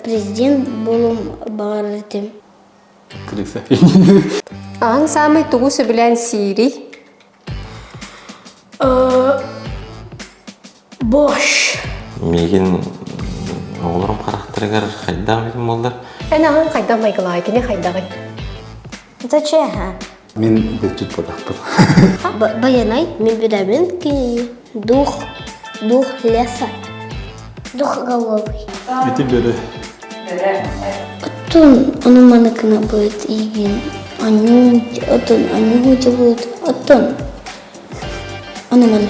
Президент булум баҕарытым. Аан саамай тугу сөбүлээн сиирий? Бош. Миигин оҕолорум харахтарыгар хайдах билим буоллар? Эн аҕаҥ хайдах майгылаай, кини хайдаҕый? Это чья? Мин бүччүт бодохпун. Байанай, мен беремен книги. Дух, дух леса. Дух головый. Ити бөрө. Оттон ону маныкына будет игин. Аню, оттон аню же будет. Оттон. Ону маны.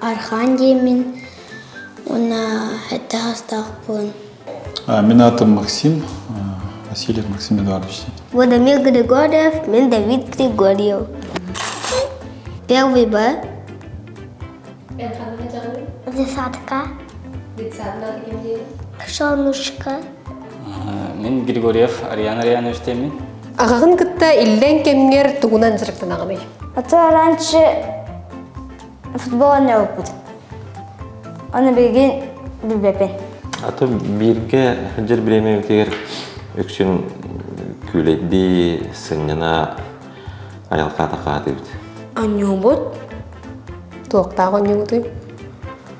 Архаан диэммин уонна сэттэ саастаахпын. Мин аатым Максим, Васильев Максим Эдуардович. Владимир Григорьев, мен Давид Григорьев. Первый Б. Десятка. Детсадка. Кошенушка. Мен Григорьев Ариан Арианович теймин. Аҕаҕын кытта иллэҥ кэмҥэр тугунан дьарыктанаҕыный? Отчего раньше футбола не опыт. Оны билигин билбеппин. Аты бииргэ сылдьар бириэмэбитигэр үксүн күүлэйдии сынньана айылҕа атаҕаатыбыт. Онньуубут? Туохтаах онньуубутуй?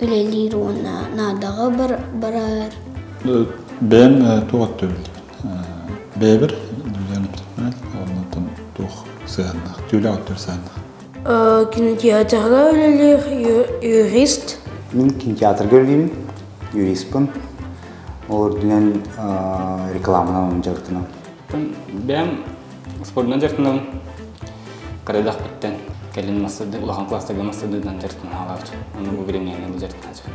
үлэлиир уонна наадаҕа барар. Бэйэм туох өттүбүн бэйэбэр Юлиана Петровна оннуттан туох сыһааннаах, түүлэ өттүбэр сыһааннаах. Кинотеатрга үлэлиир юрист. Мин кинотеатрга үлэлиибин, юристпын. Ол үрдүнэн рекламанан дьарыктанам. Бэйэм спордунан дьарыктанабын Карадахпыттан кэлин мастардыы улахан класстарга мастардыынан дьарыктана алаабыт. Ону бу билиҥҥэҥэ дьарыктааччыпын.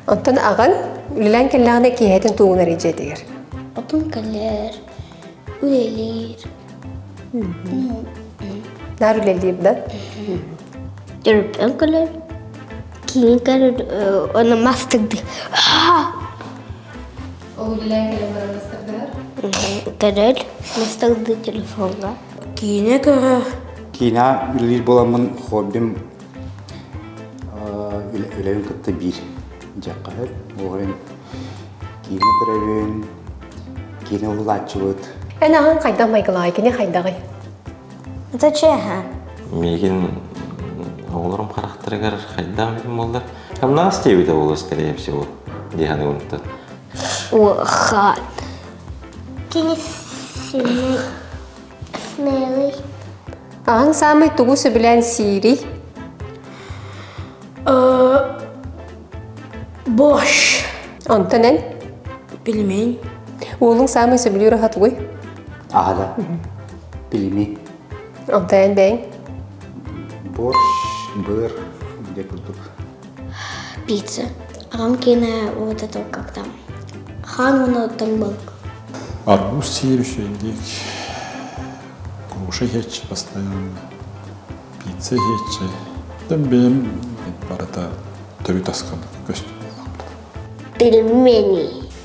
Оттон аҕаҥ үлэлээн кэллэҕинэ киэһэтин тугун эрэ дьиэтигэр? Отун кэлэр, үлэлиир. Наар үлэлиир да? Төрөппүөм кэлэр. Киин кэлэр, оны мастырдыы. Оһугилээн кэлэн баран мастаргыһар. Кэлэл, масталды телефоҥҥа. Киинэ көрө. Киинэ үлэлиир буоламмын хоббим үлэбин кытта биир дьаххаһыт. Оҕайын киинэ көрөбүн, киинэ ыллааччыбыт. Эн аҕаҥ хайдах майгылаҕай, кини хайдаҕый? Это чеха. Миигин оҕолорум харахтарыгар хайдаах эбитин буоллар Хамнаас диэбитэ буолуо скорее всего, Диана Ивановна. Охат. Кини сильный смелый. Аан саамай тугу сөбүлээн сиирий? Борщ. Онтон эн? Пельмень. Уолуҥ саамай сөбүлүүр аһа тугуй? Аһа да. Пельмень. Огдайан бэйэҥ? Борщ, быр, где курдук? Пицца. Аҕам киэнэ вот это вот как там. Хаан уонна оттон был. Арбуз сиевище индик. Кушай хечи постоянно. Пицца хечи. Там бэйэм барыта төрүт аскабыт көстүм. Пельмени.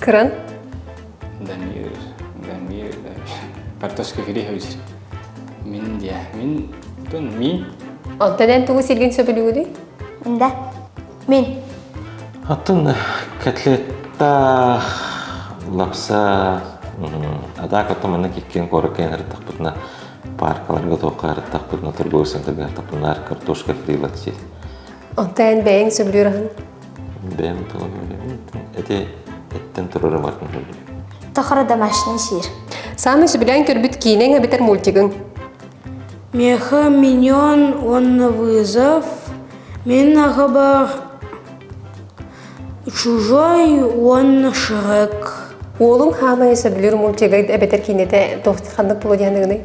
Кыран. Дамир, Дамир, Картошка Григорьевич. Мин диэ, мин, тун, мин. Онтон эн тугу силгин сөбүлүүгүдүй? Да, мин. Атын котлетта лапса атаак оттон манна киккен короккен ырыттахпытына паркаларга туохха ырыттахпытына торговый центрга ырттахпытына картошка кырыйлат сил Онтон эн бэйэҥ сөбүлүүр аһын? Бэйэм тула көрдüm. Эти эттен турары баркын көрдüm. Тахара домашний сир. Саамай сөбүлээн көрбүт киинэҥ эбэтэр мультигың? Меха миньон уонна вызов. Мен ағаба чужой уонна шрек. Уолуҥ хаамайы сөбүлүүр мультигайд эбэтэр киинэтэ ханнык пулудианыгыный?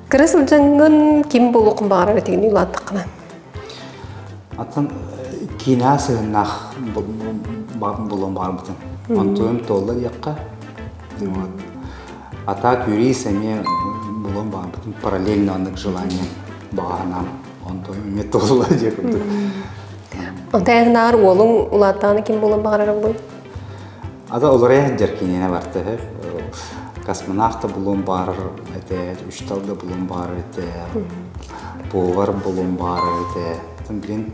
Кыра сылдьаҥҥын ким булуохун баҕарар этигини улааттаххына? Аттан киинаа сыһыннаах булуон баҕарбытым. Онтон туолла диэххэ, а так юрист эмиэ булуон баҕарбытым параллельно аннык желание баҕаһынаам. Онтон эмиэ туолла диэ курдук. Онтон ааҕынааҕар уолуҥ улааттаҕына ким булуон баҕарар буй? Ага олорая сылдьар киинэни бартыһы космонавт да булуон баарар этэ, учтал да булуон баарар этэ, повар булуон баарар этэ. Тан билин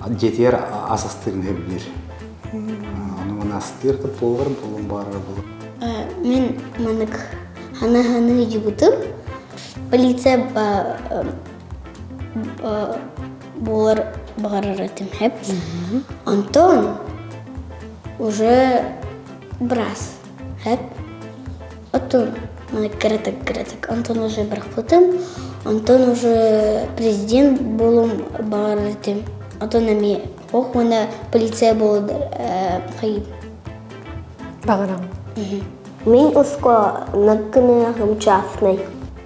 дьиэтигэр ас астыырын сөбүлүр. Ону мана астыыр да повар булуон баарар булу. Мин мынык хана-ханы жыбытым. Полиция буолар баҕарар этим хэп антон уже брас хэп оттон кыратык кыратык антон уже бырахпытым антон уже президент болуом баҕарар этим антон эмиэ ох уонна полиция болудар хайым баҕарам мин ускуонаккыны хымчаасный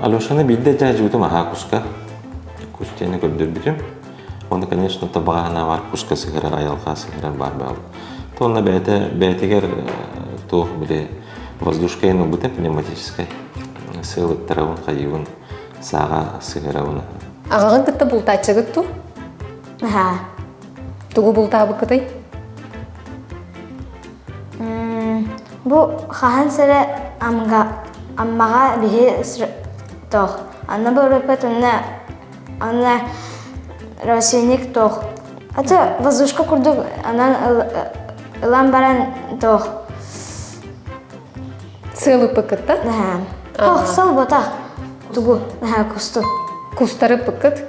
Алешаны биирдэ дьаадьыбытым аһаа куска. Кустяны көрдөрбүтүм. Уонна, конечно, табаҕаһына баар куска сыһырар, айылҕа сыһырар баар баал. То онно бэйэтэ, бэйэтигэр туох били воздушкайын ылбытым пневматическай сыылыттарабын, хайыыбын, сааҕа сыһырабын. Аҕаҕын кытта бултааччыгыт туу? Аһаа. Тугу бултаабыккытай? Бу хаһан сэрэ амга аммаҕа биһи тоох. Анна бөрөпө тонна анна росеник тоох. Ата воздушка курдук анан ылан баран тоох. Сыалыппыккытта? Хохсал бота. Тугу? Кусту. Кустары пыккыт?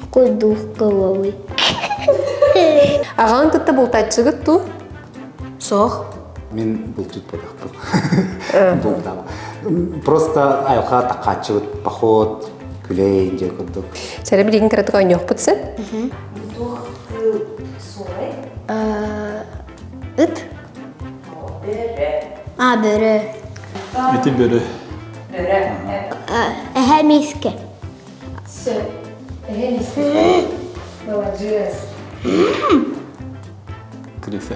какой дух головы аҕаҕын кытта бултаччыгыт дуу суох мин бултутпатахпын бултаабын просто айылҕа тахааччыбыт поход күлэй дьэ курдук сэрэ билигин кыратык оонньуохпут син Ыт? А, бөрө. Ити бөрө. Эһэ миискэ. Все. Эһэ миискэ. Молодец. Криса.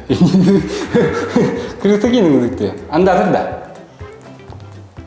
Криса кинең дикти. Андадыр да.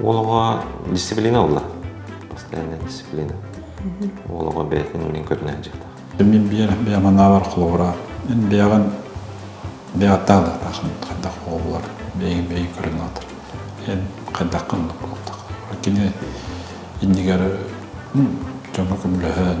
Уол оҕо дисциплина ылла. Постоянная дисциплина. Уол оҕо бэйэтин мин көрүнэ дьахтар. Мин биер бэйаманаабар холобура эн бэйэҕин бэйатаалыктаахын хайдах оҕолар бэйэҥ бэйэҥ көрүн атыр эн хайдаххын кини иннигэр дьону көмөлөһөн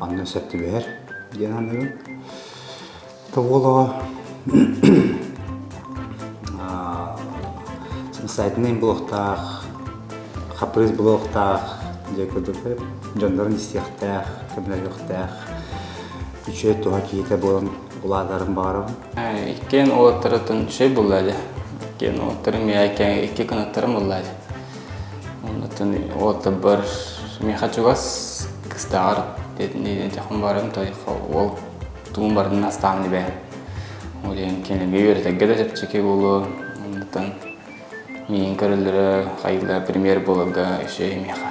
Манна сөп түбэһэр диэн аныгын. Тоболоҕо самостоятельный блоктаах, хапрыыс блоктаах дьэ курдук дьоннорун истиэхтээх, көмөлөһүөхтээх үчүгэй туһа киһитэ буолан улаатарын баҕарабын. Иккиэн уолаттарытын үчүгэй булла иле. Иккиэн уолаттарым миэхэ икки кынаттарым булла иле. Оннуттан уолтарбар миэхэ чугас кыстааҕар дэтинии дьахым баран тойхо уол тугун баран астаамын ибээн. Ол иһин кинигэ үөрэтэргэ да чэпчэки буолуо. Оннуттан миин көрөллөрө, хайыылара премьер буоларга үсүө миэхэ.